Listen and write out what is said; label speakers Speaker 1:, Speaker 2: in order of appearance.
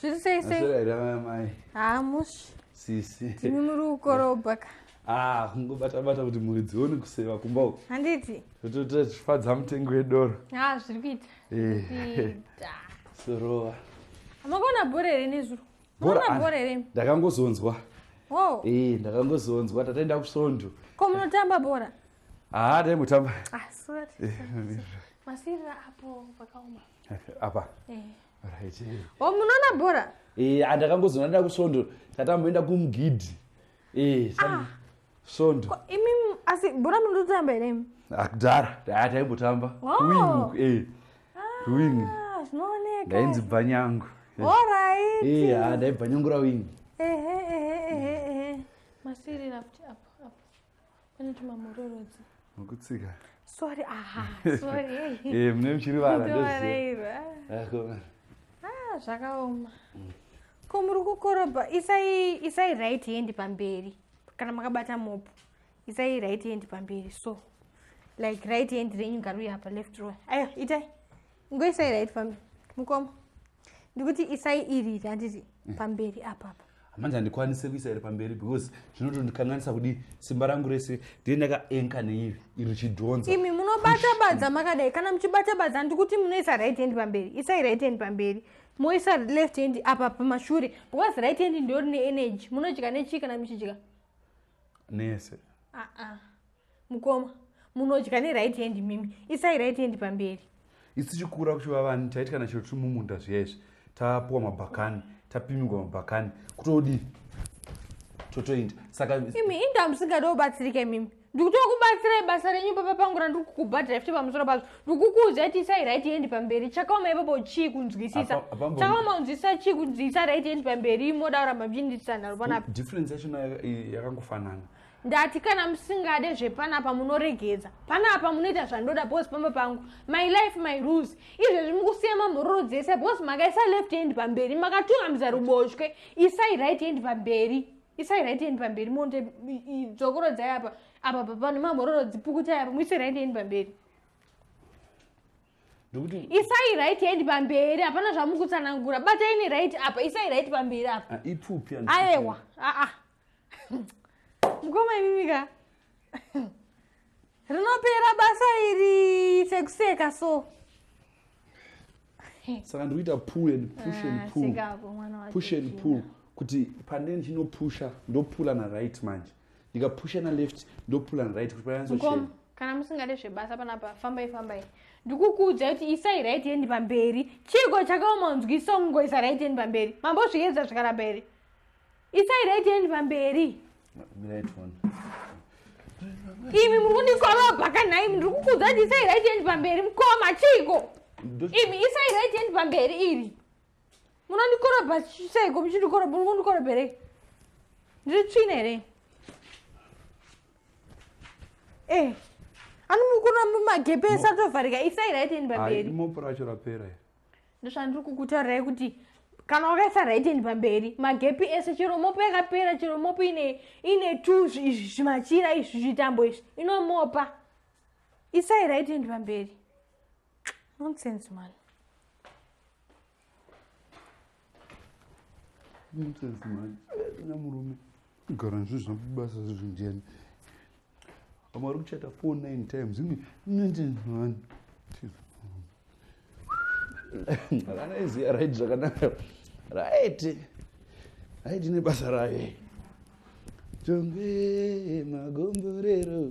Speaker 1: zviri sei seiamai haa mushi sisi timi muri kukorobha ka ah, kungobata bata kuti mhuri dzione kuseva kumba uku handiti totoita tichifadza mutengo wedoro ha ah, zviri kuita eh. sorova amakaona bhora here nezuro maona bhora here ndakangozonzwa oh. eh, ndakangozonzwa tataenda kusvondo ko munotamba bhora haa ah, daimutamba masirira apo pakaoma apa eh. right eh. o oh, munoona bhora eh andakangozoona nda kusvondo tatamboenda kumugidhi eh ah. svondo imi asi bhora munototamba here imi akudhara ah, daya taimbotamba oh. wing eh ah, wing zvinooneka ndainzi bvanyangu eh. orit eh ah, ndaibvanyangura wing ehe ehe ehe ehe masirira kuti apo apo pane tumamhororodzi mukutsika sorry aha sorry eh mune muchiri vana ndoziva ah zvakaoma mm. ko muri kukorobha isai isai right hand pamberi kana makabata mopo isai right hand pamberi so like right hand renyu ngaruya apa left row ayo itai ngoisai right pamberi mukoma ndikuti isai iri handiti mm. pamberi apapa manje handikwanise kuisa iri pamberi because zvinotondikanganisa kudii simba rangu rese ndie ndakaenka neiri iri chidhonza imi munobata badza makadai kana muchibata badza ndikuti munoisa right hand pamberi isai right hand pamberi moisa left hand apa pamashure because right hand ndiyo rine energy munodya nechii kana muchidya nese uh -uh. mukoma munodya ne right hand mimi isai right hand pamberi isi tichikura kuchiva vani taiti kana chiro tiri mumunda zviya izvi tapuwa mabhakani tapimigwa mabhakani kutodii totoinda saka imi inda musingade kubatsirika imimi ndikutoa kubatsirai basa renyu papa pangu randiri kukubhadhira fti pamusoro pazvo ndikukuudza iti isai right yendi pamberi chakaoma ipapo chii kunzwisisa chakaoma kunzwisisa chii kunzwisisa right yendi pamberi imoda kuramba mchindisanharo panapo difference yacho yakangofanana ndati kana musingade zvepanapa munoregedza panapa munoita zvandoda bos pamba pangu my life my rules izvezvi mukusiya mamhororo dzese bos makaisa left hand pamberi makatungamidza ruboshwe isai right hand pamberi isai right hand pamberi monde dzokorodzai apa apa papano mamhororo dzipukutai apa muise right hand pamberi isai right hand pamberi hapana zvamukutsanangura batai ne right apa isai right pamberi apa ah, aewa aa ah, ah. mukoma imimika rinopera basa iri sekuseka so saka ndiri kuita pull and push and ah, pull push and pull kuti pane ndinopusha ndopula na right manje ndikapusha na left ndopula na right kuti payanzochena kana musingade zvebasa panapa fambai fambai ndikukuudza kuti isai right yendi pamberi chiiko chakaoma unzwi songoisa right yendi pamberi mambozviedza zvikaramba here isai right hand pamberi imi muri kundikorobha kanhai ndiri kukudza kuti isai right hand pamberi mukoma chiiko imi isai right hand pamberi iri munondikorobha seiko muchindikorobha muri kundikorobherei ndiri tsvina here e eh, anomukura mumagepesa tovharika isai right hand pamberi mopura acho rapera ndozvandiri kukutaurayi kuti kana wakaisa rightend pamberi magepi ese chero mopo yakapera chero mopo ine ine two zvimachira izvi zvitambo izvi inomopa isai rightend pamberi nonsense man nonsense manje na murume gara nzvi zvabasa zvezvi ndiyani vamwe vari kuchata four nine times imi nonsense manje akana iziya right zvakanaka right right ine basa raye tonge magomborero